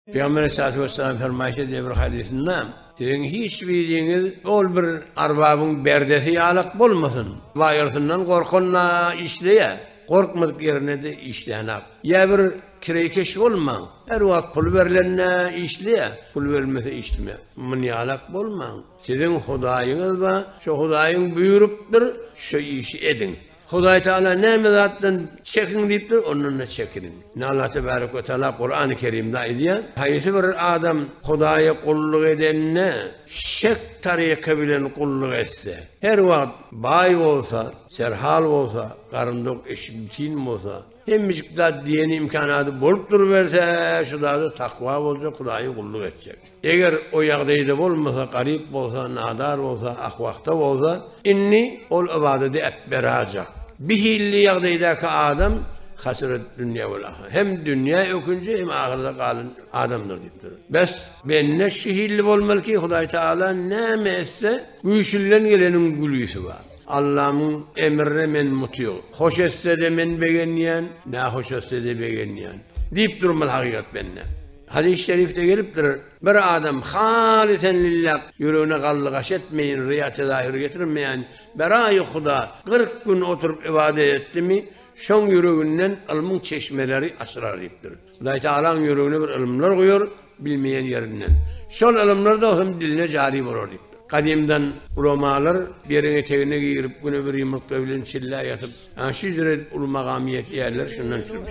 Pygamber Aleyhissalatu Vesselam fermaýyş edýär bir hadysynda, Siziň hiç biriňiz ol bir arbabyň berdesi ýalak bolmasyn, baýyrsyndan gorkanda işleýä, gorkmadyk ýerinde-de işlänok. Ýa bir kireýkeş bolmaň, her wagt pul berlende işleýä, pul berilmese işlemäň. Muny ýalak bolmaň. Siziň Hudaýyňyz bar, şo Hudaýyň buýrupdyr, şo işi ediň. Hudaý Tagala näme zatdan çekiniň diýipdir, ondan-da çekiniň. Ine, Allah tebärak we taala Kurany Kerimde aýdýar, Haýsy bir adam Hudaýa gulluk edende, şek taryka bilen gulluk etse, her wagt baý bolsa, serhal bolsa, garyn dok, eşigi giň bolsa, Hemmejik zat diýen imkanady bolup duruberse, şu zada takwa boljak, Hudaýa gulluk etjek. Eger o ýagdaýda bolmasa, garyp bolsa, nadar bolsa, ahwahta bolsa, indi ol ybadady äpberajak. Bi hilli ýagdaýdaky adam hasyrat dünýä wal ahyrete. Hem dünýä ökünji, hem ahyrete galyn adamdyr diýipdir. Bes, bende şi hilli bolmaly ki, Hudaý Tagala näme etse, güýçlinden geleniň gülisi bar. Allamyň emrine men mutyg. Hoş etsede men begenýän, nähoş etsede begenýän. Diýip durmaz hakykat bende. Hadys şerifde gelipdir, Bir adam halysen lilläh, ýüregine gallygaş etmeýin, ryýa tezahür getirmeýän, beraýy Huda kyrk gün oturyp ybadat etdimi, şoň ýüreginden ylmyň çeşmeleri açylar diýipdir. Hudaý Tagalaň ýüregine bir ylymlar guýar, bilmeýän ýerinden. Şol ylymlar da hem diline jary bolar diýipdir. Gadymdan ulamalar beriň etegine girip, güne bir ýumurtga bilen çillä ýatyp, ana şu ýüzüre edip uly magama ýetýärler, şundan çürümüş.